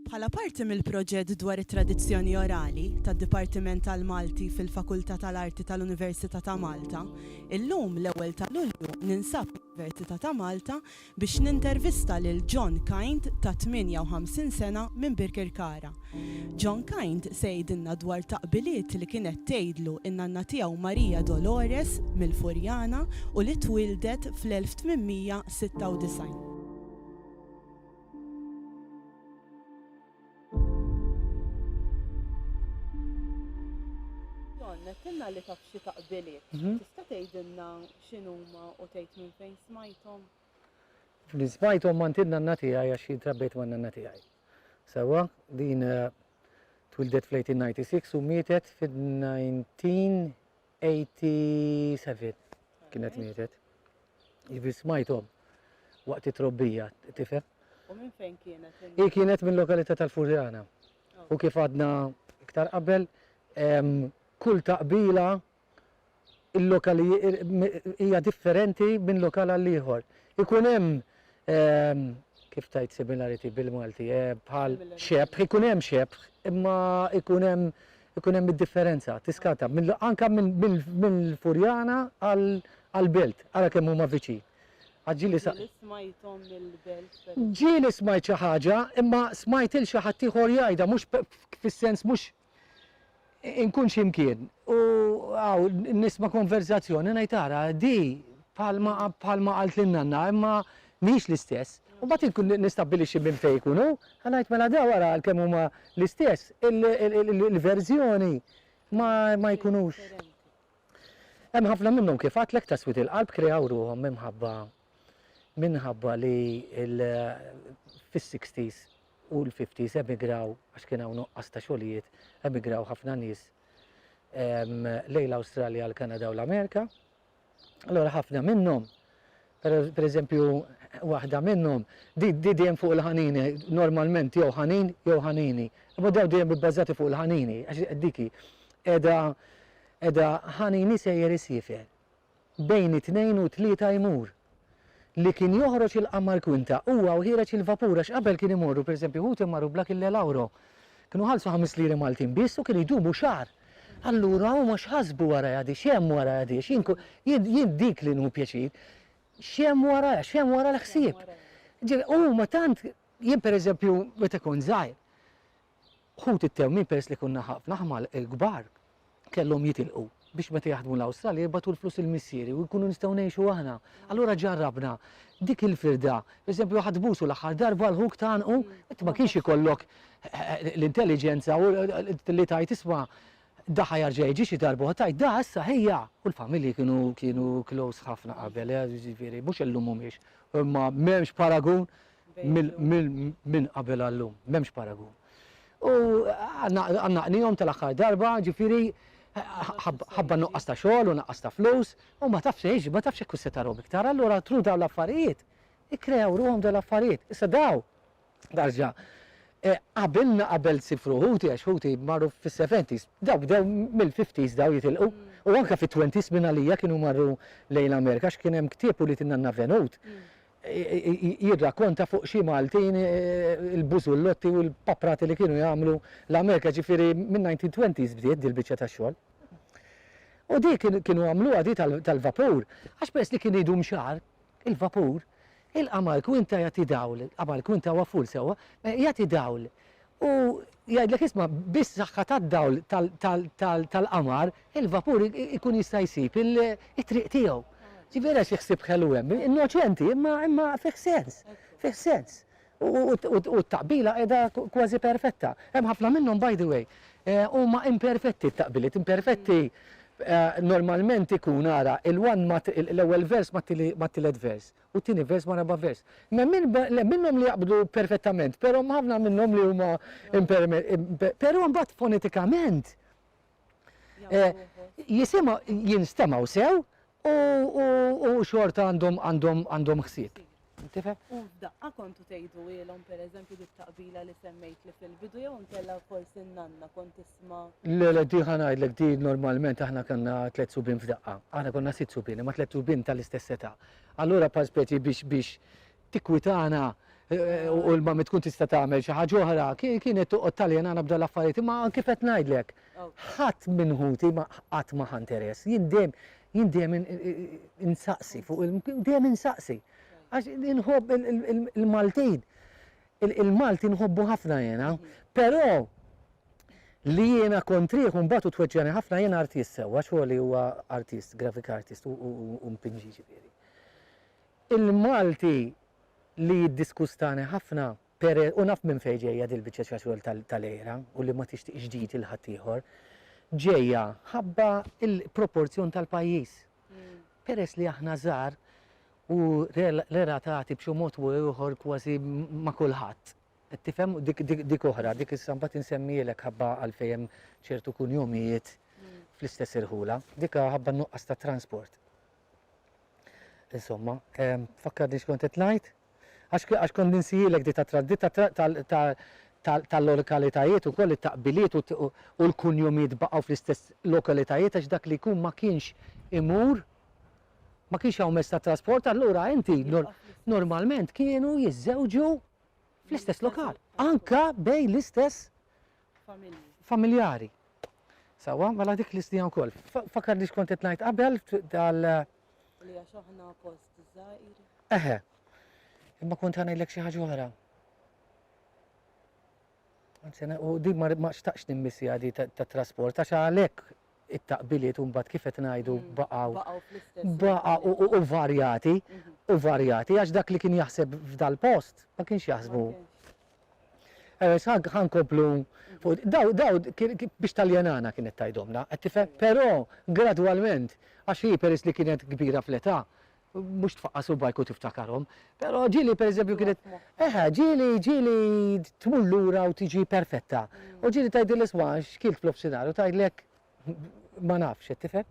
Bħala parti mill-proġett dwar it-tradizzjoni orali tad-Dipartiment tal-Malti fil-Fakultà tal-Arti tal-Università ta' Malta, illum, l-Ewwel ta' Lulju, ninsab l-Università ta' Malta biex nintervista lil John Kind ta' 58 sena minn Birkirkara. John Kind se jgħidilna dwar taqbiliet li kienet tgħidlu n-nanna tiegħu Maria Dolores mill-Furjana u li twieldet fl-1896. John, għedtilna li taf xi taqbiliet. Tista' tgħidilna X'inhuma u tgħid minn fejn smajthom? Li smajthom m'għand in-nanna tiegħi għax jien trabbejt man-nanna tiegħi. Sewwa, din twildet fl-1896 u mietet fil-1987 kienet mietet. Jiġifieri smajthom waqt it-trobbija, tifhem? U minn fejn kienet? Hi kienet mill-lokalità tal-Furjana. U kif għadna iktar qabel, kull taqbila il-lokal hija differenti minn lokal għal ieħor. Ikun hemm kif tgħid similarity bil-Malti, bħal xebħ, ikun hemm xebħ, imma ikun hemm ikun hemm id-differenza, tiskata, anke mill-Furjana għall-Belt, ara kemm huma viċin. Ġieli smajthom mill-Belt. Ġieli smajt xi ħaġa, imma smajt il xi ħadd ieħor jgħidha, mhux fis-sens mhux Inkun xi mkien u hawn nisma' konversazzjoni ngħid ara di bħalma qalt lil nanna imma mhix l-istess. U mbagħad inkun nistabbilixxi minn fejn jkun hu, ħa ngħid mela dawn ara għalkemm huma l-istess, il-verżjoni ma jkunux. Hemm ħafna minnhom kif għadtlek ta' swied il-qalb kreaw ruħhom minħabba minħabba li fis-sixties u l-50s emigraw għax kien hawn nuqqas ta' xogħlijiet, emigraw ħafna nies lejn l-Awstralja, l-Kanada u l-Amerika. Allura ħafna minnhom, pereżempju waħda minnhom, di dejjem fuq il-ħanini, normalment jew ħanin jew ħanini. Imma dawn dejjem ibbażati fuq il-ħanini, għax dik hi qiegħda ħanini sejjer isiefer. Bejn it-tnejn u t-tlieta jmur. Li kien joħroġ il-qamar kwinta, huwa u ħiereġ il-vapur għax qabel kien imorru pereżempju ħuti jmarru bla kille l-ewro. Kienu jħallsu ħames liri Maltin biss u kienu jdumu xahar. Allura huma x'ħasbu warajha di, x'hemm warajha di għax jien jien dik li nhu pjaċir. X'hemm warajha, x'hemm wara l-ħsieb. Ġifieri huma tant, jien pereżempju meta kont żgħir, ħut it-tewmin peress li kunna ħafna ħmal kbar kellhom jitilqu biex meta jaħdmu l-Awstralja jibgħatu l-flus lil missieri u nkunu nistgħu ngħixu aħna. Allura ġarrabna dik il-firda. Pereżempju ħadd busu l-aħħar darba l-ħuk tgħannqu, int ma kienx ikollok l-intelliġenza u li tgħid isma' da ħa jarġa' jiġi xi darba oħra tgħid da issa ħejja. U l-familji kienu kienu close ħafna qabel, jiġifieri mhux illum mhumiex, imma m'hemmx paragun. minn qabel għal llum, m'hemmx paragun. U għandna qnihom tal-aħħar darba, ġifieri ħabba nuqqas ta' xogħol u naqqas ta' flus, u ma tafx xejn, ma tafx jekk se tarahom iktar, allura tru dawn l-affarijiet, ikkreaw ruħhom dawn l-affarijiet. Issa daw, darġa, qabilna qabel sifru ħuti għax ħuti marru fis-seventies, daw bdew mill-fifties daw jitilqu, u anke fit-twenties minn għalija kienu marru lejn l-Amerika għax kien hemm ktieb ulied in-nanna Venut, jirrakkonta fuq xi Maltin il-bużullotti u l-paprati li kienu jagħmlu l-Amerika, ġifieri min-nineteen twenties bdiet din il-biċċa ta' xogħol. U di kienu għamluha di tal-vapur, għax peress li kien idum xahar il-vapur, il-qamar kwinta jagħti dawl, qamar kwinta huwa full sewwa, jagħti dawl u jgħidlek isma' bis-saħħa tad-dawl tal-qamar il-vapur ikun jista' jsib it-triq tiegħu. Ġifieri għax il-ħsieb ħelu hemm. Innoċenti imma fih sens. Fih sens. U t-taqbila qiegħda kważi perfetta. Hemm ħafna minnhom by the way huma imperfetti t-taqbiliet. Imperfetti normalment ikun ara l-ewwel vers mat-tielet vers. u t-tieni vers ma' raba' vers. Hemm minnhom li jaqbdu perfettament, però hemm ħafna minnhom li huma imperfetti. Però mbagħad fonetikament jisimgħu, jinstemgħu sew u xorta għandhom ħsieb. Tifhem? U f'daqqa kontu tgħidulhom pereżempju dit-taqbila li semmejtli fil-bidu jew inkella forsi n-nanna kont tisma'. Le, le, di ħa ngħidlek, di normalment aħna kellna tliet subien f'daqqa. Aħna konna sitt subien, imma tliet subien tal-istess età. Allura bħal speċi biex biex tikkwitana u l-mammi tkun tista' tagħmel xi ħaġa oħra, kienet toqgħod taljenana b'dan l-affarijiet, imma kif qed ngħidlek, ħadd minn ħuti ma qatt ma ħa interess. Jien dejjem jien dejjem insaqsi fuq dejjem insaqsi. Għax inħobb il-Maltin. Il-Malti nħobbu ħafna jiena, pero li jiena kontrih u mbagħad hu tweġġgħani ħafna jiena artist sewwa, xogħli huwa artist, graphic artist u mpinġi jiġifieri. Il-Malti li jiddiskustani ħafna pere u naf minn fejn ġejja din il-biċċa ta' xogħol tal-għira u li ma tixtieqx ġid il ħaddieħor, ġejja ħabba l-proporzjon tal-pajjiż. Peress li aħna żgħar u relatati b'xi mod u ieħor kważi ma' kulħadd. Qed tifhem? Dik oħra, dik issa mbagħad insemmihielek ħabba għalfejn hemm ċertu kunjumijiet fl-istess irħula. Dik ħabba n-nuqqas ta' transport. Insomma, tfakkarni x'kont qed ngħid? Għax għax kont ninsihielek di tat-traddi ta' ta' ta' ta' ta' tal-lorikalitajiet ukoll it-taqbiliet u u u l-kunjumiet baqgħu fl-istess lokalitajiet għax dak li jkun ma kienx imur ma kienx hawn mezz ta' trasport allura inti nor normalment kienu jiżżewġu fl-istess lokal. Anka bejn l-istess Familji. familjari. Sewwa, mela dik l-istija wkoll. Fa fakkarni x'kont qed ngħid qabel tal Li għax aħna post żgħir. Eħe. Imma kont ħa ngħidlek xi ħaġa oħra. Anzi, u din ma xtaqx nimmissi għadi ta' trasport, għax għalek it-taqbiliet un bat kifet najdu mm. baqaw. Baqa u varjati, mhm. u varjati, għax dak li kien jaħseb f'dal-post, ma kienx jaħsbu Għaliex ħa ħa nkomplu fuq daw daw kien kien biex taljenana kienet tgħidhomna, qed tifhem? Però gradwalment, għax hi peress li kienet kbira fl-età, mhux tfaqqa' subgħajk u tiftakarhom, però ġieli pereżempju kienet, eħe, ġieli ġieli tmur lura u tiġi perfetta. U ġieli tgħidilha isma' x'kilt f'nofsinhar u tgħidlek Ma nafx, qed tifhem?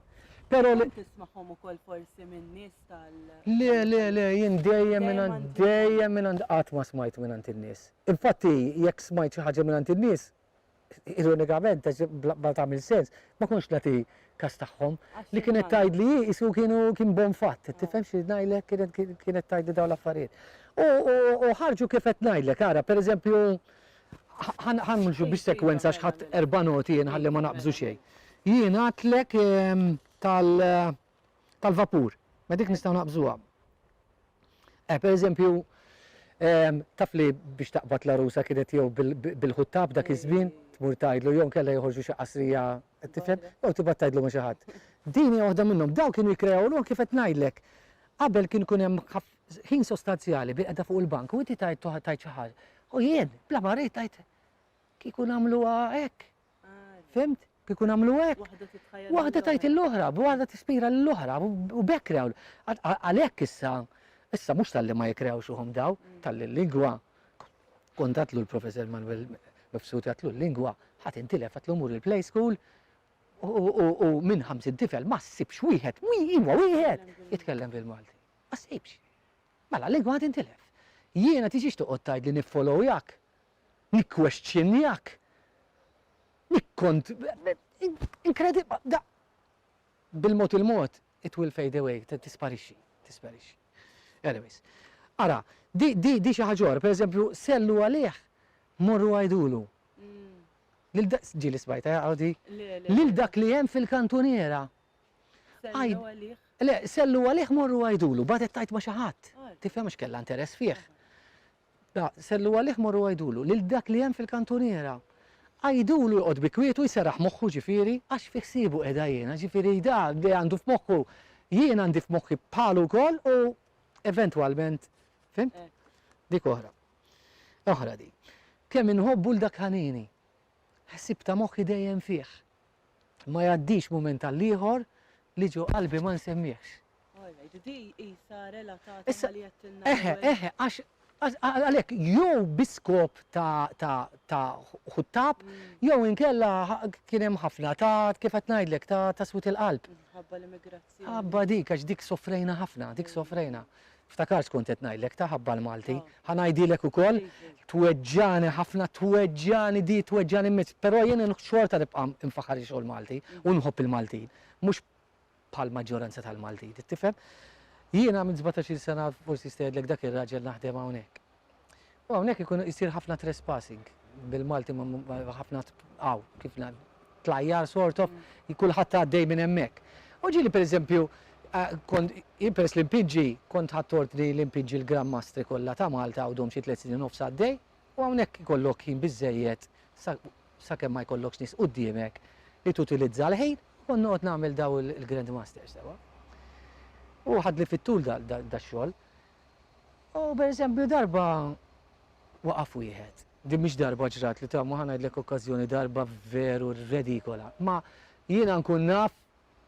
Pero li. Tismagħhom ukoll forsi minn nies tal. Le, le, le, jien dejjem minn dejjem minn qatt ma smajt minn għand in-nies. Infatti, jekk smajt xi ħaġa minn għand in-nies, ironikament, għax bla tagħmel sens, ma kontx nagħti kas tagħhom. Li kienet tgħidli hi isu kienu kien bon fatt, tifhem xi ngħidlek kienet tgħidli dawn l-affarijiet. U ħarġu kif qed ngħidlek, ara, pereżempju, ħanmlu biex sekwenza xħat erba noti jien ħalli ma naqbżu xejn. Jien għatlek ehm, tal-vapur, ma dik nistaw naqbżuha. Eh, per eżempju, ehm, taf li biex taqbad la rusa kienet jew bil-ħuttab dak iż-żmien, tmur tajdlu jew kella joħorġu xi qasrija tifhem, jew tibgħat tajdlu ma' xi ħadd. Dini waħda minnhom, daw kienu jikrew kif qed ngħidlek. Qabel kien kun hemm Ħin sostanzjali bil-qeda fuq il-bank u inti tajt tajt xi ħaġa. U jien, bla ma rejt tajt kieku nagħmluha hekk. Fimt? Kieku nagħmlu hekk. Waħda tajt il-oħra, waħda tispira l-oħra u bekk rew. Għalhekk issa, issa mhux tal-li ma jikrewx uħom daw, mm. tal-li lingwa. Kontatlu l-professor Manuel Mifsud għatlu l-lingwa, ħat intilef għatlu mur il-play school, u minn 50 tifel ma ssibx wieħed, wieħed, wieħed, jitkellem bil-Malti. Ma ssibx. Mela l-ilma tintilef. Jiena tiġix toqgħod tgħidli niffollowyjak, nikkwestjnjak, nikkont. Inkredibbli. Bil-mod il-mod it will fade away, tisparixxi, tisparixxi. Anyways. Ara, di xi ħaġa oħra, pereżempju, sellu għalih, morru għidulu. Ġieli smajtha jaqgħu di? Lil dak li hemm fil-kantuniera. Għid- Sellgħu għalih. Le, sellgħu għalih morru għidulu, bagħtet tgħid ma' xi ħadd. Għad. Tifhem għax kellha interess fih. La, sellgħu għalih morru għidulu, lil dak li hemm fil-kantuniera. Għidulu joqgħod bi kwietu jseraħ moħħu ġifieri, għax fi ħsiebu qiegħda jiena, ġifieri da li għandu f'moħħu jien għandi f'moħħi bħalu wkoll u eventwalment, fhimt? Hekk. Dik oħra. Oħra din. Kemm inħobbu 'l dak ħanini. Ħsieb ta' moħħi dejjem fih. Ma jgħaddix mument għall-ieħor li ġo qalbi ma nsemmihx. Alright, di qisha relatata Issa, ma li għedtilna. Eħe, l-ewwel. eħe, għax għax- għal- għalhekk jew bi skop ta' ta' ta' ħuttab, jew inkella ħa- kien hemm ħafna ta' kif qed ngħidlek ta' ta' swit il-qalb. Minħabba l-immigrazzjoni. Ħabba dik, għax dik sofrejna ħafna, dik sofrejna. Ftakart x'kont qed ngħidlek ta' ħabba l-Malti. Ħa ngħidilek ukoll, tweġġagħni ħafna, tweġġagħni di, tweġġagħni mmiss. Però jien xorta nibqa' nfaħħar ix-xogħol Malti u nħobb il-Maltin. Mhux bħall-maġġoranza tal-Maltin, tifhem? Jiena minn sbatax-il sena forsi jista' jgħidlek dak ir-raġel naħdem hawnhekk. U hawnhekk ikun isir ħafna trespassing bil-Malti ħafna tqaw kif tlajjar sort of kulħadd għaddej minn hemmhekk. U ġieli pereżempju kont peress li mpiġġi kont ħadd ordni li mpiġġi l-Gran Mastri kollha ta' Malta għawdhom xi tliet snin u nofs għaddej u hawnhekk ikollok ħin biżżejjed sakemm ma jkollokx nies quddiemek li tutilizza l-ħin u kont noqgħod nagħmel dawn il-Grand Masters sewwa. U ħadli fit-tul dax-xogħol. U pereżempju darba waqaf wieħed, din mhix darba ġrat li ta' ma ħa ngħidlek okkażjoni darba veru redikola, ma jiena nkun naf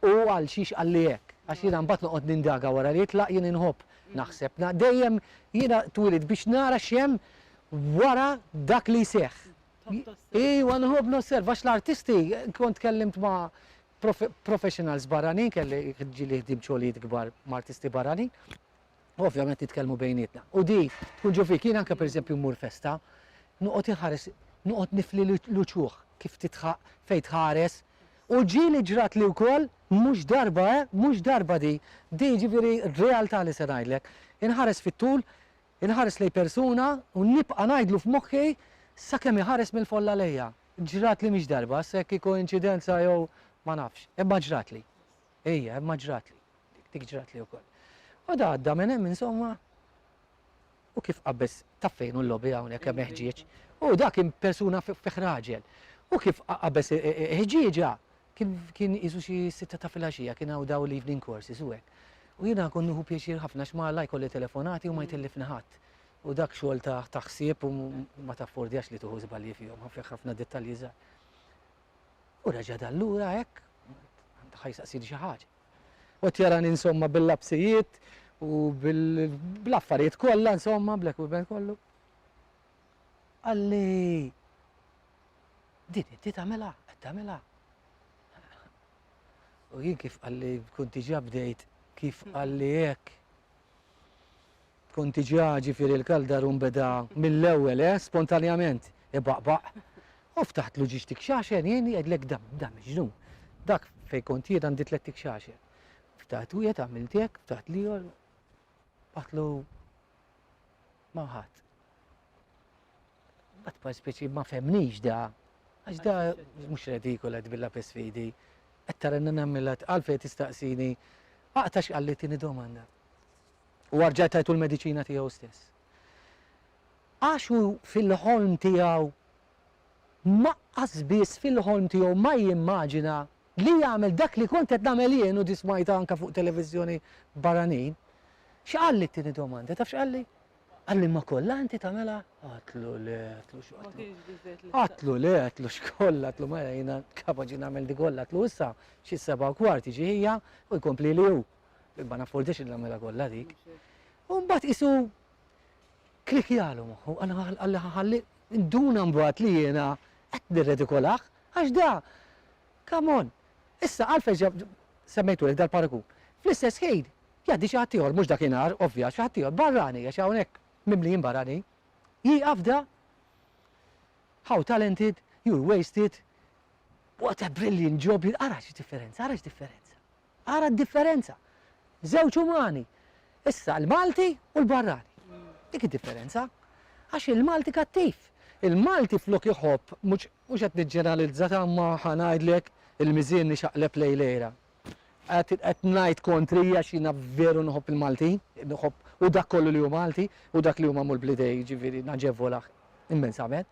hu għal xiex qalli hekk, għax jiena mbagħad noqgħod nindaga wara li jitlaq, jien inħobb naħseb, dejjem jiena twielidt biex nara x'hemm wara dak li jseħħ. Iwa nħobb nosserva għax l-artisti, kont tkellimt ma' professionals barranin, kelli ġieli ħdimt xogħlijiet kbar ma' artisti barranin, u ovvjament nitkellmu bejnietna. U di tkun ġo fik, jien anke pereżempju mmur festa, noqgħod inħares, noqgħod nifli l-uċuħ kif titħaq fejn tħares. U ġieli ġratli wkoll, mhux darba eh, mhux darba di, di jiġifieri realtà li se ngħidlek. Inħares fit-tul, inħares lejn persuna u nibqa' ngħidlu f'moħħi sakemm iħares mill-folla lejja. Ġratli mhix darba, issa jekk hi koinċidenza jew ma nafx, imma ġratli. Ejja, imma ġratli. Dik ġratli wkoll. U da għadda minn hemm insomma u kif qabbeż taf fejn hu l-lobby hawnhekk hemm ħġieġ. U da kien persuna fih raġel. U kif qabbeż ħġieġa kien qisu xi sitta ta' filgħaxija kien hawn daw l-evening courses u hekk. U jiena nkun nieħu pjaċir ħafna għax ma la jkolli telefonati u ma jtellifni ħadd. U dak xogħol ta' ħsieb u ma taffordjax li tieħu żbalji fihom, fih ħafna dettalji żgħar. U reġa' dar lura hekk, għandu ħa jistaqsini xi ħaġa. U qed jarani insomma bil-lapsijiet u bl-affarijiet kollha insomma, bl-equipment kollu. Qalli din inti tagħmilha, qed tagħmilha. U jien kif qalli kont diġà bdejt kif qalli hekk Punti ġa, ġifieri l-Kaldarun beda mill-ewwel, eh, spontanjament, ibaqbaq. U ftaħtlu ġiex tikxaxen, jien jgħidlek dan, dan miġnun. Dak fejn kont jien għandi tliet tikxaxen. Ftaħt wieħed għamilt hekk, ftaħt l-ieħor, batlu ma' ħadd. Bat pa speċi ma femnix da. Għax da mux redikola tbilla pes fidi. Qed taranna nagħmilha għalfejn tistaqsini aqta' x'qalli tieni domanda. U arġajt tajtu l-mediċina tiegħu stess. Għax hu fil-ħolm tiegħu ma biss fil-ħolm tiegħu ma jimmaġina li jagħmel dak li kont qed nagħmel jien u dismajta anke fuq televiżjoni barranin. X'qalli t-tieni domanda? Taf x'qalli? Għalli ma kollha inti tagħmilha? Għatlu le, għatlu x'għatlu. Għatlu le, għatlu x'kollha, għatlu ma jgħina kapaċi nagħmel di kollha, għatlu issa xi seba' kwart jiġi ħija u jkompli li hu. Ma naffordix li nagħmilha kollha dik. U mbagħad isu klikjalu moħħu, għalli ħalli nduna mbagħad li jiena qed nirredikolah għax da. Come on. Issa għalfejn semmejtu li dal-paragun. Fl-istess ħin Jgħaddi xi ħadd ieħor, mhux dakinhar, ovvja, xi ħadd ieħor, barrani, għax hawnhekk mimlijin barranin, jieqaf da, how talented, you're wasted, what a brilliant job you, ara x'differenza, ara x'differenza, ara d-differenza, żewġ umani, issa l-Malti u l-barrani. Dik id-differenza. Għax il-Malti kattiv. Il-Malti flok iħobb, mhux qed niġġeneralizza ta' imma ħa ngħidlek il-miżien ixaqleb lejlejra. Qed qed ngħid kontri għax jiena veru nħobb il-Maltin, nħobb u dak kollu li hu Malti u dak li huma Mulbliday jiġifieri naġevolah immensament.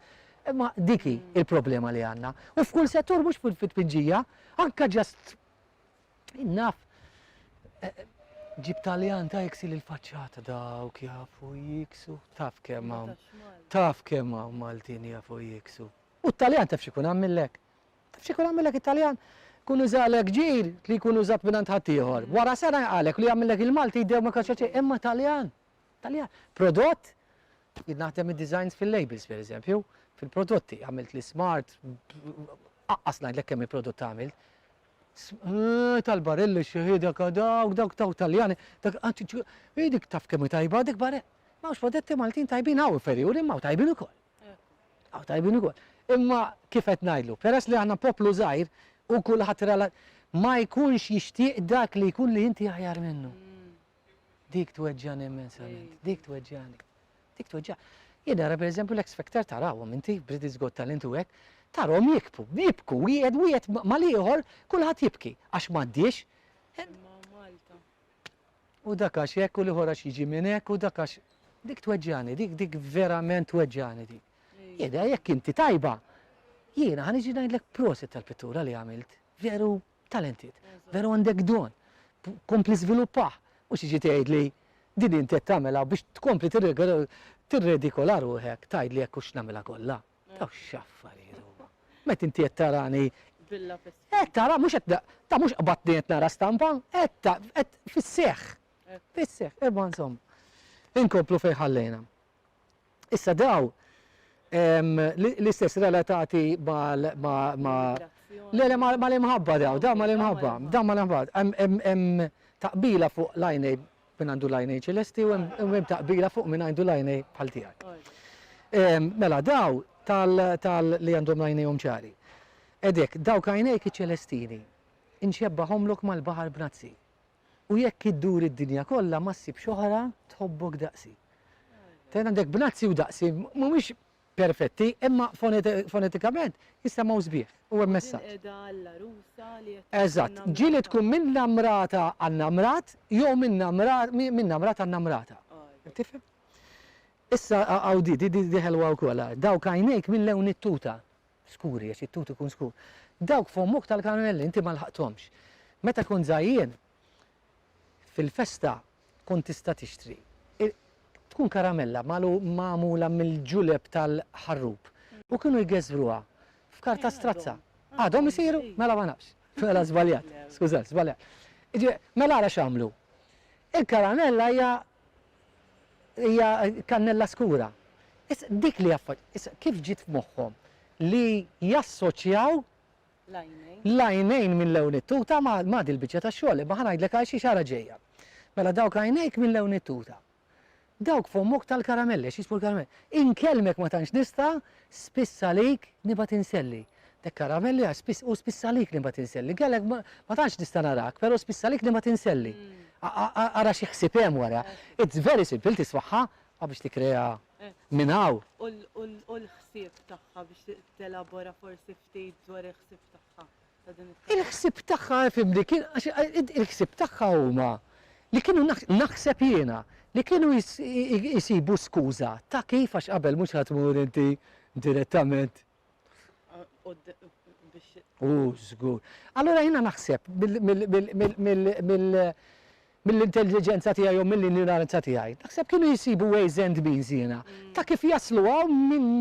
Imma dik hi l-problema li għandna. U f'kull settur mhux fit-tpinġija, anke just naf ġib Taljan ta' iksi lill-faċċata dawk jafu jiksu. Taf kemm hawn. Taf kemm hawn Maltin jafu jiksu. U t-Taljan taf x'ikun għamillek? Tafx ikun għamillek it-Taljan? Jkun użalek ġir li jkun użat mingħand ħaddieħor. Wara sena jqalek li għamillek il-Malti jdew ma kellx xejn, imma Taljan! Taljan! Prodott! Jien naħdem id-designs fil-labels pereżempju, fil-prodotti, għamilt li smart, aqqas ngħidlek kemm il-prodott għamilt. Eh, tal-barilli xeħida kadawk, dawk taw taljani, dak għanti dik taf kemm tajba dik barre. Mawx prodotti Maltin tajbin hawn ferjuri ma tajbin ukoll. Hawn tajbin ukoll. Imma kif qed ngħidlu, peress li aħna poplu żgħir u kulħadd rela ma jkunx jixtieq dak li jkun li inti aħjar minnu. Dik tweġġagħni immensament, dik tweġġagħni. Dik tweġġa. Jien nara pereżempju l-X Factor tarawhom inti, British Got Talent u hekk, tarhom jikbu, jibku, wieħed wieħed mal-ieħor kulħadd jibki għax m'għaddiex. U dak għax hekk u l-ieħor għax jiġi minn hekk u dak għax dik tweġġagħni, dik dik verament tweġġagħni dik. Jidha jekk inti tajba, jiena ħa niġi ngħidlek prosit tal-pittura li għamilt. Veru talented, veru għandek don. Kompli żviluppah, mhux tiġi tgħidli din inti qed tagħmilha biex tkompli tirredikola ruħek tgħidli hekk hux nagħmilha kollha. Daw x'affarijiet huma. Meta inti qed tarani Villa fis-sħab. Qed tara mhux qed ta' mhux qbadtni qed nara stampa, qed ta' qed fis-seħħ. Fis-seħħ, imma insomma. Inkomplu fejn ħallejna. Issa daw l-istess relatati mal ma le le mal-imħabba daw, daw mal-imħabba, daw mal-imħabba. Hemm taqbila fuq l-għajnejn Min għandu l-għajnejn ċelesti u hemm ta' qbila fuq min għandu l-għajnej bħal tiegħek. Mela daw tal li għandhom l-għajnejhom ċari. Edek, dawk għajnejk iċ-ċelestini, inxebbahomlok mal-baħar b'nazzi. U jekk iddur id-dinja kollha ma ssibx oħra tħobbok daqsi. Ten għandek b'nazzi u daqsi, mhumiex perfetti, imma fonetikament jissemgħu sbieħ u hemm messaġġ. Hawn qiegħda l-għarusa li qed tkun innamrata. Eżatt, ġie li tkun minnamrata għannamrat jew minnamrat għannamrata. Qed tifhem? Issa hawn di, di ħelwa wkoll, ara, dawk għajnejk minn lewn it-tuta, skuri għax it-tut ikun skur, dawk f'ommok tal-karmelli inti ma lħaqthomx. Meta kont żgħir jien, Fil-festa tkun tista' tixtri, tkun karamella magħmula mill-ġuleb tal-ħarrub u kienu jgeżżruha f'karta strazza. Għadhom isiru? Mela ma nafx. Mela żbaljat. Skużat, żbaljat. Mela ara x'għamlu. Il-karamella hija hija kannella skura. Dik li kif ġiet f'moħħhom li jassoċjaw L-għajnejn minn lewn it-tuta, ma di l-biċċa tax-xogħol, imma ħa ngħidlek għal xiex ara ġejja. Mela dawk għajnejk minn lewn it-tuta. Dawk fommok tal-karamelli għax jixbhu l-karamelli. Inkellmek ma tantx nista', spiss għalik nibgħat inselli. Dek karamelli għax spiss u spiss għalik nibgħat inselli. Kellek ma tantx nista' narak, però spiss għalik nibgħat inselli. Ara xi ħsieb hemm wara. It's very simple tismagħha ma biex tikkrea minn hawn. U l-ħsieb tagħha biex telabora forsi tgħid dwar il-ħsieb tagħha ta' din it-talba? Il-ħsieb tagħha, ifhimni, kien għax il-ħsieb tagħha huma li kienu naħseb jiena, li kienu jsibu skuża ta' kif għax qabel mhux ħa tmur inti direttament. Hu żgur. Allura jiena naħseb mill mill-intelliġenza tiegħi jew mill-injoranza tiegħi, naħseb kienu jsibu ways and means jiena, ta' kif jaslu hawn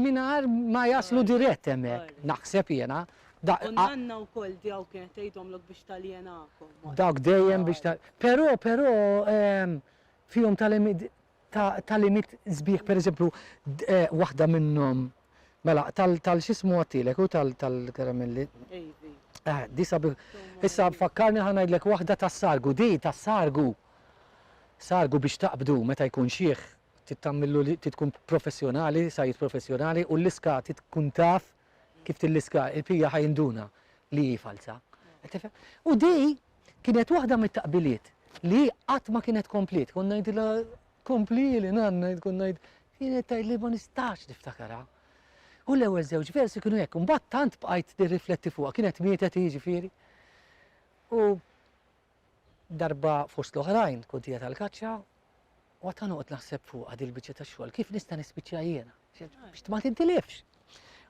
mingħajr ma jaslu dirett hemmhekk, naħseb jiena. U n-nanna wkoll dawk kienet tgħidhomlok biex taljenakom. Dawk dejjem biex. Però, però, fihom ta' tagħlimiet sbieħ, pereżempju waħda minnhom mela tal x'ismu għadtilek hu tal-karamelli. Ivi. Eh, di sabiħ. Issa fakkarni ħa ngħidlek waħda tas-sargu, di tas-sargu. Sargu biex taqbdu meta jkun xieħ tittamillu li tkun professjonali, sajjid professjonali u l-iska tkun taf kif tilliska il-pija ħa jinduna li hi falza. Qed tifhem? U di kienet waħda mit-taqbiliet li hi qatt ma kienet kompliet. Kont ngħidilha kompli li nanna tkun ngħid kienet tgħid li ma nistax niftakarha. U l-ewwel żewġ versi kienu hekk, imbagħad tant bqajt nirrifletti fuqha, kienet mietet jiġifieri. U Darba fost l-oħrajn tkun tija tal-kaċċa u għad noqgħod naħseb fuqha din il-biċċa ta' xogħol, kif nista' nispiċċa jiena? Biex ma tintilifx.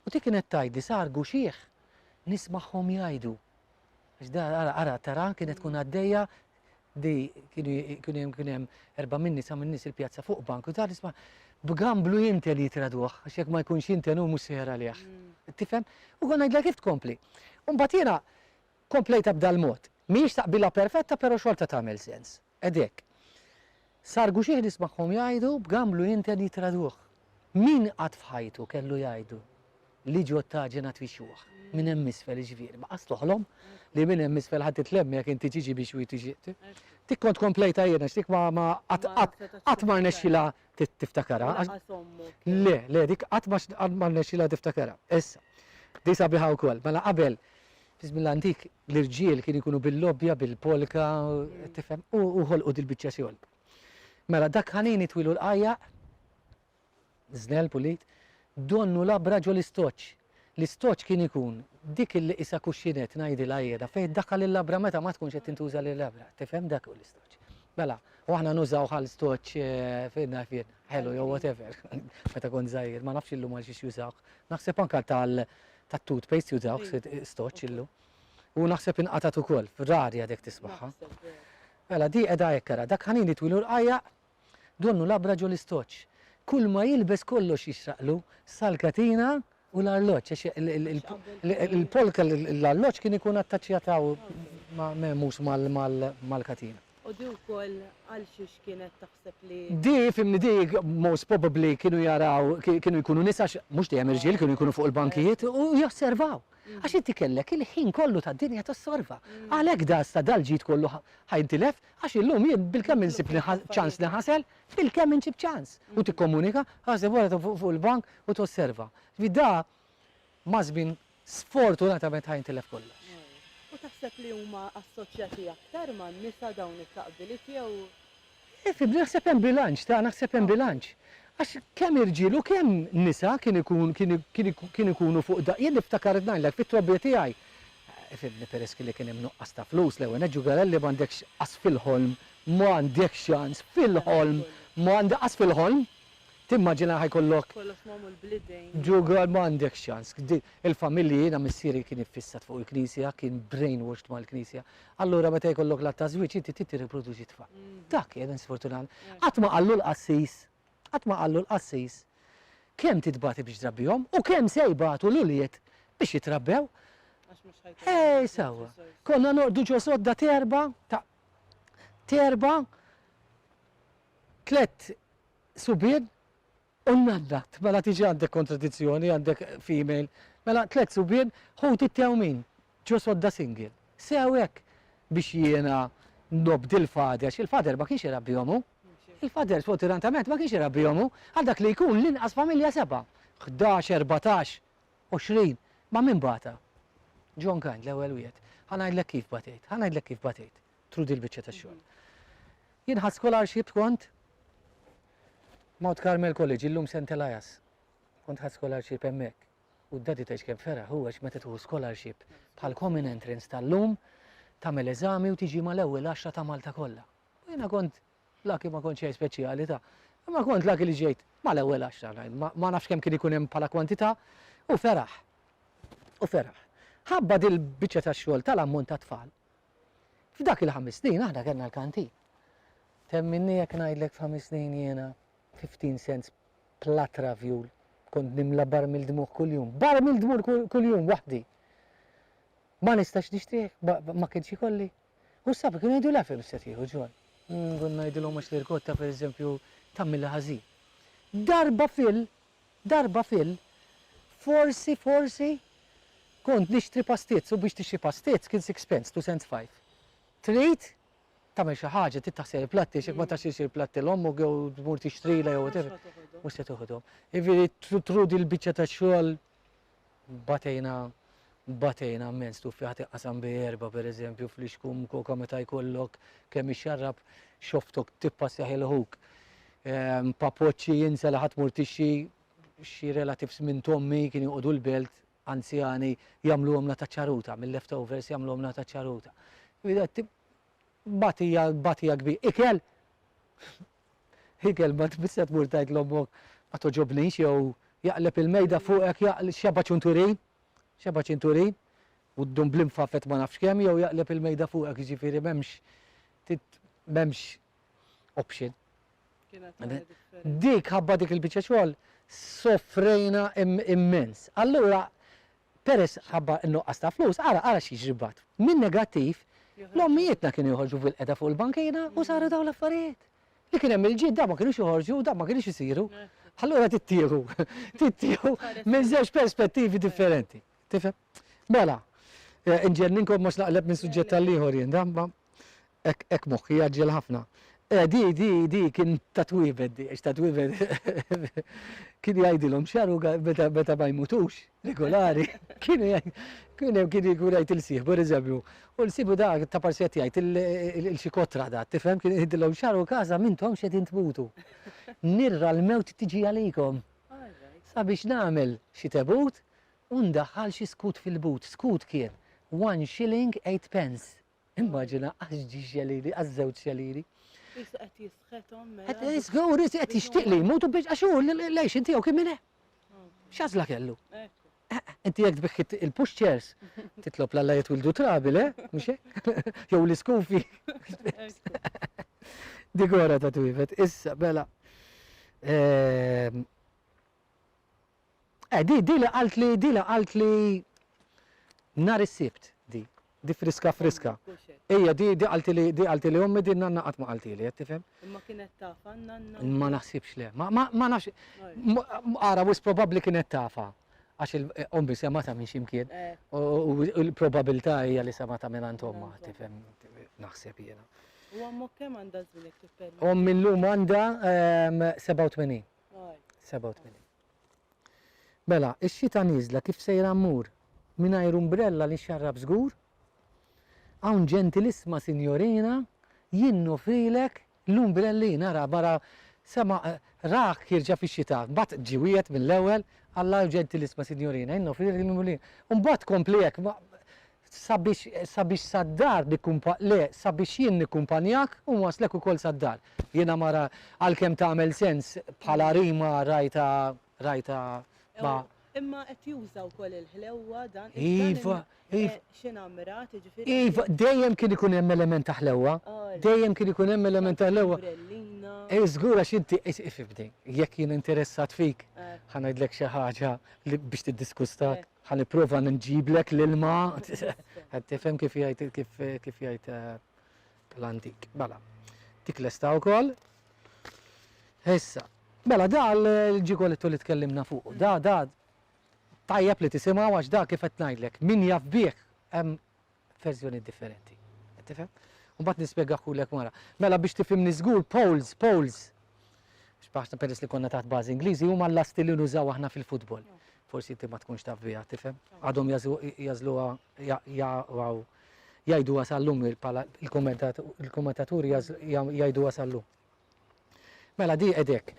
U dik kienet tgħidli sar guxieħ nismagħhom jgħidu. Għax da ara ara tara kienet tkun għaddejja di kienu hemm kien hemm erba' minni sa minn nies il-pjazza fuq bank u ta' nisma' b'gamblu jintel jitraduh għax jekk ma jkunx jintel hu mhux sejjer għalih. Tifhem? U konna ngħidla kif tkompli. U mbagħad jiena komplejta b'dal-mod. Mhijiex taqbila perfetta pero xorta tagħmel sens. Ed hekk. Sar guxih nismagħhom jgħidu b'gamblu jinten jitraduh. Min qatt f'ħajtu kellu jgħidu li ġo t-taġen għad fi xjuħ, minn hemm isfel iġvir. Baqas toħlom li minn hemm isfel ħadd itlem jekk inti tiġi biex hu jtiġiq. Dik kont komplejta jien għax dik ma qatt qatt qatt ma rnexxilha tiftakarha. Lanqas ommu. Le, le, dik qatt ma rnexxilha tiftakarha. Issa. Di sabiħa wkoll. Mela qabel Fi żmien l-antik l-irġiel kienu jkunu bil-lobbja, bil-polka, qed tifhem, u ħolqu dil-biċċa xogħol. Mela dak ħanin itwilu l-qajjaq, żnell pulit, donnu labra ġol-istoċċ. L-istoċċ kien ikun dik li qisha cuscinette ngħidilha jiena, fejn iddaħħal il-labra meta ma tkunx qed tintuża l-labra. Tifhem dak hu l-istoċċ. Mela, u aħna nużaw bħal stoċċ fejn naf jien, ħelu jew whatever, meta kont żgħir, ma nafx illum għal xiex jużawh. Naħseb anke tal ta' toothpaste jużaw stoċ illu. U naħseb inqatat ukoll, rari għadek tisbaħħa. Mela di qiegħda hekk ara, dak ħanin itwilu rqajja donnu labra ġol istoċ. Kull ma jilbes kollox jixraqlu sal-katina u l-arloġġ. Il-polka l-arloġġ kien ikun attaċċjataw ma' memus mal-katina. U di wkoll għalxiex kienet taħseb li. Di, fhimni di, most probably kienu jaraw, kienu jkunu nisa għax mhux dejjem irġiel kienu jkunu fuq il-bankijiet u josservaw. Għax inti kellek il-ħin kollu tad-dinja tossorva. Għalhekk da sta dal-ġid kollu ħa jintilef għax illum jien bilkemm insib ċans niħasel, bilkemm insib ċans. U tikkomunika, aħseb wara fuq il-bank u tosserva. Ġifieri da Maż-żmien sfortunatament ħa jintilef kollox. U taħseb li huma assoċjati aktar man-nisa dawn it-taqbiliet jew? Fibni, naħseb hemm bilanċ ta' naħseb hemm bilanċ. Għax kemm irġiel u kemm nisa kien ikun kien kien kien ikunu fuq da jien niftakar ngħidlek fit-trobbija tiegħi fibni peress kelli kien hemm nuqqas ta' flus l-ewwel nett ġugarelli m'għandekx qas fil-ħolm m'għandek xans fil-ħolm m'għandek qas fil-ħolm Timmaġina ħa jkollok. Kollox magħmul bl-idejn. Ġugar ma għandekx ċans. Il-familji jiena missieri kien iffissat fuq il-Knisja, kien brainwashed mal-Knisja. Allura meta jkollok l-att ta' żwieġ inti trid tirriproduċi tfal. Dak kien sfortunat. Qatt ma qallu l-qassis, qatt ma qallu l-qassis kemm titbati biex trabbihom u kemm se jbatu l-ulied biex jitrabbew. Għax mhux ħajkun hemm. Ej sewwa. Konna noqogħdu ġo sodda t'erbgħa, ta' t'erbgħa, tlett subien u nnaddat. Mela tiġi għandek kontradizzjoni, għandek female. Mela tliet subien, ħut it-tew min? Ġo sodda single. Sew hekk. Biex jiena nobdi l-father, x'il-father ma kienx irabbihom hu. Il-father sfortunatament ma kienx irabbihom hu. Għal dak li jkun l-inqas familja sebgħa. Ħdax, erbatax, għoxrin. Ma' min bata? John Kind, l-ewwel wieħed. Ħa ngħidlek kif batejt, ħa ngħidlek kif batejt. through din il-biċċa ta' xogħol. Jien ħadt scholarship kont Mount Carmel College, illum St. Elias. Kont ħadd scholarship hemmhekk. U d-daddy tgħidx kemm feraħ huwa x'meta tieħu scholarship bħal common entrance tal-lum tagħmel eżami u tiġi mal-ewwel għaxra ta' Malta kollha. U jiena kont laki ma kontx xejn speċjali ta' imma kont laki li ġejt mal-ewwel għaxra ma nafx kemm kien ikun hemm bħala kwantità u feraħ. U feraħ. Ħabba dil-biċċa tax-xogħol tal-ammont ta' tfal F'dak il-ħames snin aħna kellna l-kantin. Temminni jekk ngħidlek f'ħames snin jiena 15 cents platra vjul kont nimla barmil dmugħ kuljum. Barmil dmugħ kuljum waħdi! Ma nistax nixtrih, ma kienx ikolli. U s-sabi kienu jgħidu l-għafja biex se tieħu ġol. Nkun ngħidilhom għax l-irkotta pereżempju tagħmilha ħażin. Darba fil Darba fil. Forsi, forsi, kont nixtri pastizz u biex tixtri pastizz kien six pence, two cents five. Trid tagħmel xi ħaġa, trid taħsel il-platti għax jekk ma taħsilx il-platti 'l ommok jew tmur tixtrilha jew whatever, mhux se toħodhom. Jiġifieri trudi l-biċċa tax-xogħol batejna batejna mmens tuffieħa tinqasam bi erba' pereżempju fl-ixkum koka meta jkollok kemm ixxarrab xoftok tippassjah il ħuk. Papoċċi jinsa li ħa tmur tixxi xi relatifs minn t'ommi kien joqogħdu l-belt anzjani jagħmluhomlha ta' ċaruta, mil-leftovers jagħmluhomlha ta' ċaruta. Bagħtija bagħtija kbira. Ikel? Hi kelma tbiss se tmur tgħid 'l ommok ma togħġobnix jew jaqleb il-mejda fuqek jaql x'jaba' ċunturin, x'jaba' ċinturin, u ddum bl-imfafet ma nafx kemm jew jaqleb il-mejda fuqek jiġifieri m'hemmx tit m'hemmx option. Kienet ħaġa differenti. Dik ħabba dik il-biċċa xogħol sofrejna immens. Allura Peress ħabba n-nuqqas ta' flus, ara, ara x'jiġri mbagħad. Min-negattiv, l-ommijietna kienu joħorġu bil-qeda fuq il-bankina u saru dawn l-affarijiet. Li kien hemm il-ġid, dawn ma kinux joħorġu, dawn ma kinux isiru. Allura tittieħu, tittieħu minn żewġ perspettivi differenti. Tifhem? Mela, inġenninkom għax naqleb minn suġġett għall-ieħor jien, da, ma. Hekk hekk moħħi jgħaġġel ħafna. Eh, di, di, di kien ta' twiebed di, għax ta' twiebed kien jgħidilhom x'jaru meta meta ma jmutux regolari, kienu jgħid kien hemm kien jkun jgħid il-sieħbu, pereżempju, u l-sieħbu da ta' parsi qed jgħid il-xi kotra da, tifhem, kien jgħidilhom x'jaru każa m'intomx qegħdin tmutu. Nirra l-mewt tiġi għalikom. Sabiex nagħmel xi tebut u ndaħħal xi skut fil-but. Skut kien one shilling eight pence. Immaġina għax ġi xelili, għax żewġ xelili. Issa qed jisħetom. Mela. Qed jisħu u risi qed jixtieq li jmutu biex għax hu lejx inti jew kien minn X'għażla kellu? Eh, eh, inti jekk tbiħħit il-pushchairs, titlob l-alla jitwildu trabi, le? Eh? Mhux Jew l-iskufi. Digora ta' twifet, issa, bela. Ehm, Eh, di, di li qaltli, di li qaltli nhar is-Sibt, di. Di friska friska. Ejja, di, di qaltili, di qaltili ommi, di nanna qatt ma qaltili, qed tifhem? Imma kienet tafha nanna? Ma naħsibx le, ma, ma, ma nafx. Ara, wis probabbli kienet tafha. Għax il-ommi semgħatha minn xi mkien. U l-probabilità hija li semgħatha minn għand ommha, tifhem? Naħseb jiena. U ommok kemm għandha żmien jekk tippermetti? Ommi llum għandha 87. 87. Mela, ix-xita nieżla kif sejra mmur? Mingħajr umbrella li nxarrab żgur? Hawn ġentilissma sinjorina jien nofrilek l-umbrellina ra bara sema' rah jirġa' fix-xita mbagħad ġie wiegħed mill-ewwel Alla jew ġentilissma sinjorina jien nofrilek l-umbrellina u mbagħad kompli hekk Sabiex, sabiex sad-dar nikkumpa, le, sabiex jien nikkumpanjak u nwasslek ukoll sad-dar. Jiena mara, għalkemm tagħmel sens bħala rima rajtha, rajtha ma. Imma qed juża wkoll il-ħlewwa dan, dan il, eh, xi namrat, jiġifieri. Iva, dejjem kien ikun hemm element ta' ħlewwa, dejjem kien ikun hemm element ta' ħlewwa. L-umbrellina. Eh, żgur għax inti, is, ifhimni, jekk jien interessat fik, ħa ngħidlek xi ħaġa li, biex tiddiskustak. Ħa nipprova nġiblek l-ilma. Qed tifhem kif jgħid kif kif jgħid eh, l-antik. Mela, dik lesta wkoll. Issa, mela da l-ġigoletto li tkellimna fuq, da da tajjeb li tisimgħu għax da kif qed ngħidlek, min jaf bih hemm verżjoni differenti. Qed tifhem? U mbagħad nispjegah kulek wara. Mela biex tifhimni żgur, poles, poles. X'baħna peress li konna taħt bażi Ingliżi huma l-lasti li nużaw aħna fil-futbol. Forsi inti ma tkunx taf biha, tifhem? Għadhom jażluha jgħiduha sal-lum il-kommentaturi jgħiduha sal-lum. Mela di qed hekk